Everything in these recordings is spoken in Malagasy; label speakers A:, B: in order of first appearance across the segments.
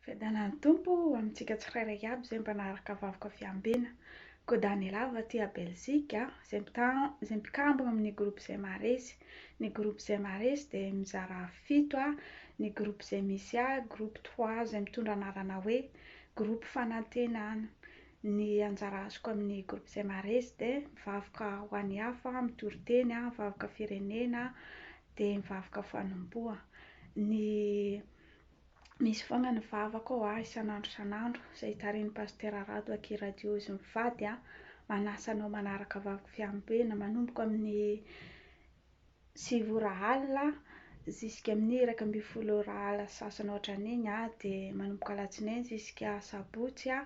A: Fiadanan'ny Tompo ho amintsika tsirairay aby izay mba naharaka vakoka fiambiana. Koa Daniela avy aty à Belzika, izay mita- izay mpikambana amin'ny groupe izay maharesy. Ny groupe izay maharesy dia mizara fito a, ny groupe izay misy ahy, groupe trois izay mitondra anarana hoe, groupe fanantenana. Ny anjara azoko amin'ny groupe izay maharesy dia mivavaka ho an'ny hafa, mitoriteny, vakoka firenena, dia mivavaka fanompoa. Ny misy foana ny vavaka ao a, isan'andro isan'andro, izay tarihin'i Pasitera Rado aky Radio Izy Mivady a, manasa anao manaraka vavaka fiambenana manomboka amin'ny sivy ora alina ziska amin'ny iraika ambin'ny folo ora alina sy sasany ohatran'iny a, dia manomboka alatsinainy ziska sabotsy a,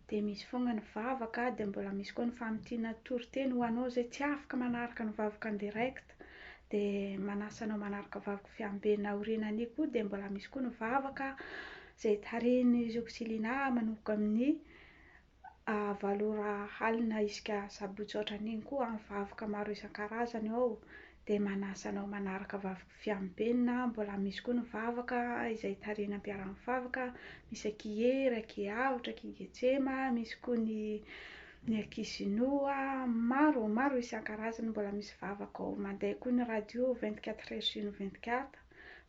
A: dia misy foana ny vavaka, dia mbola misy koa ny famintinana toriteny ho anao izay tsy afaka manaraka ny vavaka en direct. Christ de manasa anao manaraka vavaka fiamben aoriana anio koa de mbola misy koa ny vavaka zay tarihin'i Roxilina manomboka amin'ny valo ora alina isaka sabotsy otran'iny koa ny vavaka maro isan-karazany ao de manasa anao manaraka vavaka fiamben mbola misy koa ny vavaka izay tarihin'ny ampiaraha-mivavaka misy akia Hery akia Avotra akia Getsema misy koa ny Ny ankizy noa maro, maro isan-karazany mbola misy vavaka ao, mandeha koa ny radio vingt quatre heures sur vingt quatre,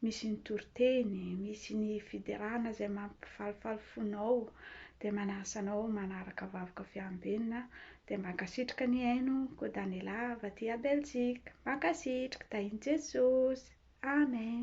A: misy ny toriteny, misy ny fiderana izay mampifalifaly fonao, dia manasa anao manaraka vavaka fiambenana, dia mankasitrka nihaino ko Daniela avy aty à Belgique, mankasitrka, tahin'i Jesosy, Amen.